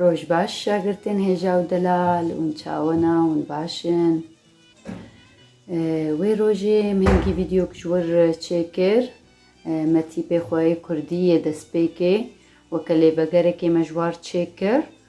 Roj baş şagirtên Hêja û Delal, hûn çawena, hûn baş in. Wê rojê em hingî vîdeyok ji wir çêkir. Me tîpê xwe yê kurdî yê destpêkê weke lêvegerekê me ji war çêkir.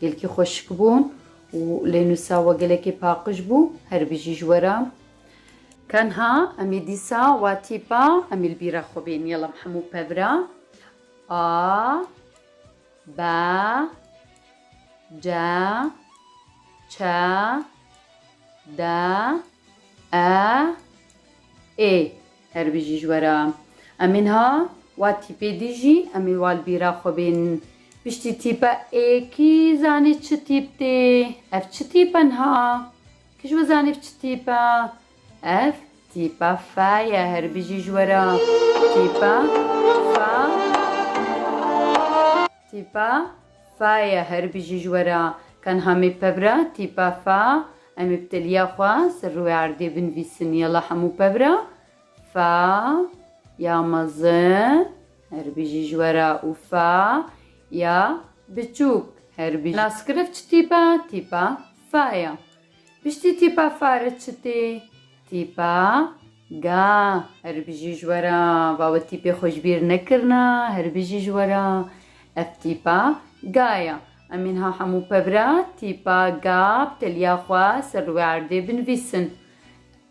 Gelkî xweşik bûn û lê nûsa we gelekî paqij bû. Her bijî ji we re. Tenha em ê dîsa wa tîpa em ê li bîra xwe bên. Yala em hemû pev re A, B, C, Ç, D, E, Ê. Her bijî ji we re. Emîn ha wa tîpê dijî Emîn wa li bîra xwe bên. Piştî tîpe ê kî zanî çi tîp tê? Ev çi tîp e niha? Kî ji we zanî ev çi tîp e? Ev tîpa fe ye. Her bijî ji we re. Tîpa fe. Tîpa Faye her bijî ji we re. Tenha me pevra tîpa fa Em ê bi teliya xwe ser rûyê erdê binivîsin Yala hemû pevra fa ya mezin her bijî ji we re û fa ya biçûk her bijî Naskirevç tîpa tîpa fa ye. Piştî tîpa fare çi tê? Tîpa ga. Herî bijî ji we re. Va we tîpê xwe ji bîr nekirina. Herî bijî ji we re. Ev tîpa ga ye. Em ê niha hemû pev re tîpa ga bi teliya xwe ser li wê erdê binivîsin.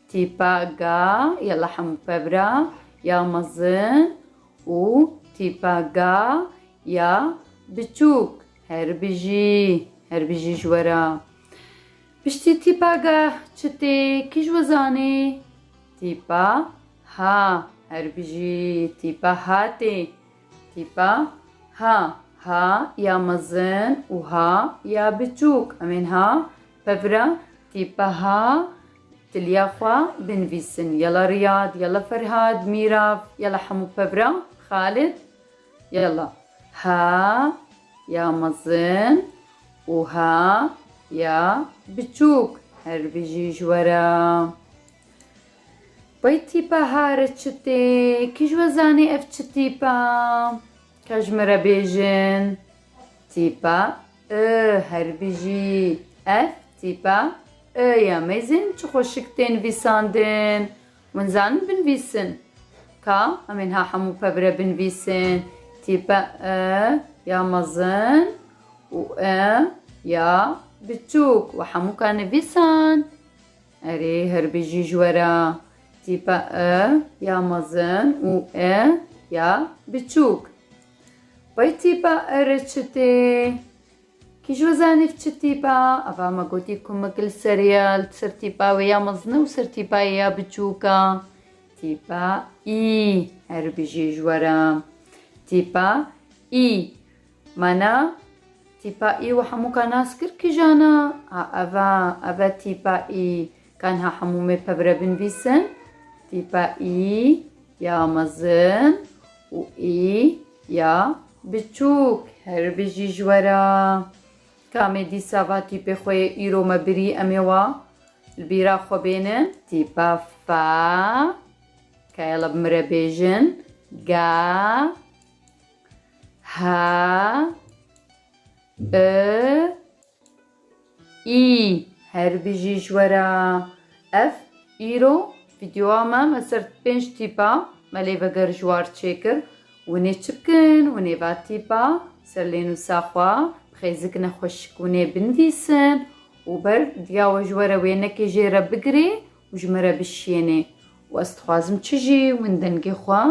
Tîpa ga yala hemû pev re ya mezin û tîpa ga ya biçûk. Herî bijî. Herî bijî ji we re. Piştî tîpageh çi tê kî ji we zanê? Tîpa ha her bijî tîpa ha tê. Tîpa ha ha ya mezin û ha ya biçûk. Em ên ha pevira tîpa ha tiliya xwe binivîsin. Yala Riyad, yala Ferhad, Mîrav, yala hemû pevira Xalid. Yala, ha ya mezin û ha ya biçûk her bijî ji we re. Wey tîpa hare çi tê? Kî ji we zanî ev çi tîpa? Ka ji min re bêjin. Tîpa I her bijî. Ev tîpa I ya mêzên çi xweşik tê nivîsandin. Wan zanin binvîsin. Ka em ê niha hemû pevre binvîsin, tîpe e ya mezin û e ya biçûk we hemû ka nivîsan? Erê her bijî ji we re. Tîpe e ya mezin û e ya biçûk. Bay tîpe e re çi tê? Kî ji we zanîb çi tîp e? Ava me gotî ku me gil serê ye, li ser tîpa wê ya mezin e û ser tîpa yê ya biçûk e. Tîpa î her bijî ji we re. Tîpa î Mana tîpa î we hemû ka nas kir kijan e? A Ev e, ev e tîpa î. Ka niha hemû me pebire binivîsin, tîpa î ya mezin û î ya biçûk her bijî ji we re. Ka me dîsa va tîpê xwe yê îro me birî em ê wa li bîra xwe bênin. Tîpa fa ka ya li min re bêjin, ga, ha, i, Î, her bijî ji we re. Ev, îro, vîdyoa me, me ser pênc tîpa, me lê veger ji war çêkir, hûn ê çi bikin, hûn ê va tîpa, ser lênûsa xwe, bixêzik nexweşik hûn ê binvîsin û ber diya we ji we re wênekê jê re bigirê û ji min re bişiyênê û ez dixwazim çi jî hûn dengê xwe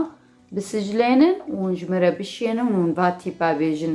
bisiclênin û hûn ji min re bişiyênin û hûn va tîpa bêjin.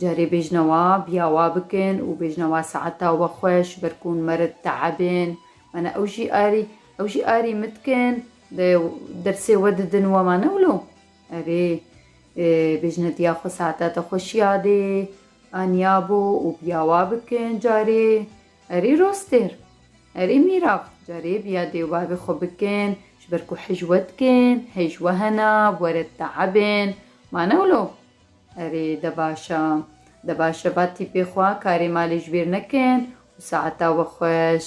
Carê bêjne wa biya wa bikin û bêjne wa saeta we xweş ber ku hûn merid teebên mana ew jî arî ew jî arî min dikin de dersê we didin û ema ne wilo erê bêjne diya xwe saeta te xweş yadê aniya bo û biya wa bikin carê erê rostêr erê mîrav carê biya dê û bavê xwe bikin ji ber ku hej we dikin hej we hena were teebên ma ne wilo. Erê de baş e. De baş e ba tîpê xwe karê malê ji bîr nekin û saeta we xweş.